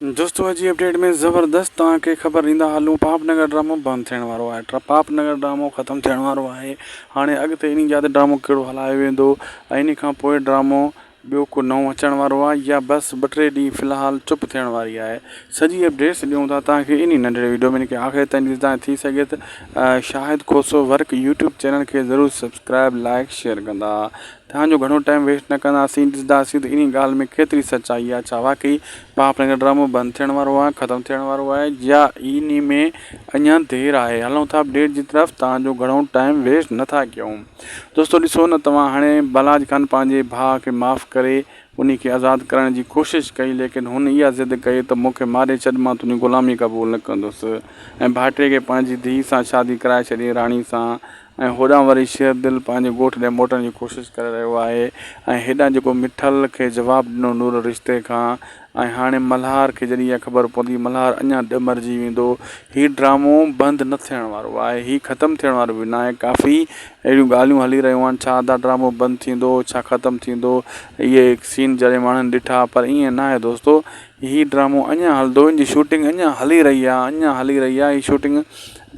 دوستو اڄ جي اپڊيٽ ۾ زبردست توهان کي خبر ڏيندا هلون پاپ نگر ڊرامو بند ٿيڻ وارو آهي ٽرا پاپ نگر ڊرامو ختم ٿيڻ وارو آهي هاڻي اڳتي انهي جاء تي ڊرامو کهڙو هلايو ويندو ۽ انهي کان پوء ڊرامو ٻيو ڪو نئون اچڻ وارو آهي يا بس ٻه ٽي ڏينهن في الحال چپ ٿيڻ واري آهي سڄي اپڊيٽس ڏيون ٿا توهان کي انهي ننڍڙي وڊيو ۾ ان کي آخر تائين ڏسدا ۽ ٿي سگهي ته Shahid Khoso work YouTube channel کي ضرور سبسڪرائب لائيڪ شيئر ڪندا توهان جو گهڻو ٽائيم ويسٽ نه ڪنداسين ڏسداسين ته انهي ڳالهه ۾ ڪيتري سچائي آهي ڇا واقعي مان اپنائي ڪا ڊرامو بند ٿيڻ وارو آهي ختم ٿيڻ وارو آهي يا ان ۾ اڃا دير آهي هلون ٿا اپڊيٽ جي طرف توهان جو گهڻو ٽائيم ويسٽ نه ٿا ڪيون دوستو ڏسو نه توهان هاڻي بلاج خان پنهنجي ڀاء کي معاف ڪري انهي کي آزاد ڪرائڻ جي ڪوشش ڪئي ليڪن هن اها ضد ڪئي ته مون کي ماري ڇڏ مان تنهنجي غلامي قبول نه ڪندس ۽ ڀائٽي کي پنهنجي ڌيء سان شادي ڪرائي ڇڏي راڻي سان ۽ هوڏانهن وري شير دل پنهنجي ڳوٺ ڏي موٽڻ جي ڪوشش ڪري رهيو آهي ۽ هيڏانهن جيڪو مٺل کي جواب ڏنو نور رشتي کان ۽ هاڻي ملهار کي جڏهن اها خبر پوندي ملهار اڃا ڏمرجي ويندو هي ڊرامو بند نه ٿيڻ وارو آهي هي ختم ٿيڻ وارو به ناهي ڪافي اهڙيون ڳالهيون هلي رهيون آهن ڇا ادا ڊرامو بند ٿيندو ڇا ختم ٿيندو اهي سين جڏهن ماڻهن ڏٺا پر ائين ناهي دوستو هي ڊرامو اڃان هلندو هن جي شوٽنگ اڃان هلي رهي آهي اڃان هلي رهي آهي هي شوٽنگ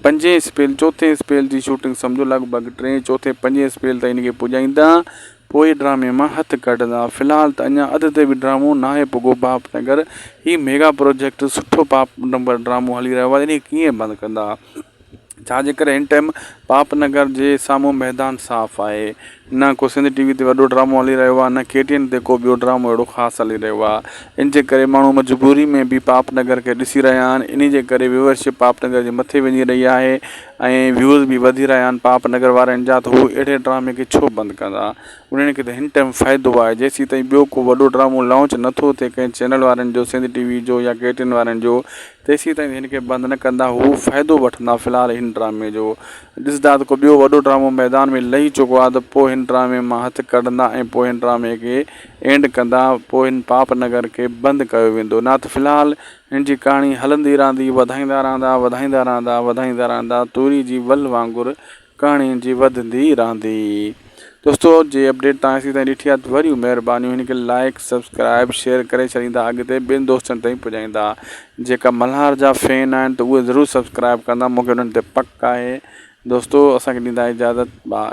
پنجين اسپيل چوٿين اسپيل جي شوٽنگ سمجهو لڳ ڀڳ ٽين چوٿين پنجين اسپيل تائين هن کي پڄائيندا پوء ڊرامي مان هٿ ڪڍندا في الحال ته اڃان اڌ تي به ڊرامو ناهي پڳو باپ نگر هي ميگا پروجيڪٽ سٺو باپ نمبر ڊرامو هلي رهيو آهي هن کي ڪيئن بند ڪندا. ڇا جي ڪري هن ٽائيم پاپ نگر جي سامهون ميدان صاف آهي. نه ڪو سنڌ ٽي وي تي وڏو ڊرامو هلي رهيو آهي نه ڪي ٽي اين تي ڪو ٻيو ڊرامو اهڙو خاص هلي رهيو آهي ان جي ڪري ماڻهو مجبوري ۾ به پاپ نگر کي ڏسي رهيا آهن انهي جي ڪري ويورشپ پاپ نگر جي مٿي وڃي رهي آهي ۽ ويوز به وڌي رهيا آهن پاپ نگر وارن جا ته هو اهڙي ڊرامي کي ڇو بند ڪندا انهن کي ته هن ٽائيم فائدو آهي جيسين تائين ٻيو ڪو وڏو ڊرامو لانچ نٿو ٿئي ڪنهن چينل وارن جو سنڌ ٽي وي جو يا ڪي ٽي اين وارن جو تيسيتائين هن کي بند نه ڪندا هو فائدو وٺندا في الحال هن ڊرامي جو ڏسندا ته ڪو ٻيو وڏو ڊرامو ميدان ۾ لهي چڪو آهي ته پوء هن ڊرامي مان هٿ ڪڍندا ۽ پوء هن ڊرامي کي اينڊ ڪندا پوء هن پاپ نگر کي بند ڪيو ويندو نه ته في الحال هن جي ڪهاڻي هلندي رهندي وڌائيندا رهندا وڌائيندا رهندا وڌائيندا رهندا توري جي ول وانگر ڪهاڻي جي وڌندي رهندي. دوستو جي اپڊيٽ توهان اسين تائين ڏٺي آهي ته وريون مهربانيون هن کي لائيڪ سبسڪرائيب شيئر ڪري ڇڏيندا اڳتي ٻين دوستن تائين پڄائيندا جيڪا ملهار جا فين آهن ته اهي ضرور سبسڪرائيب ڪندا مونکي انهن تي پڪ آهي دوستو اسان کي ڏيندا اجازت باء.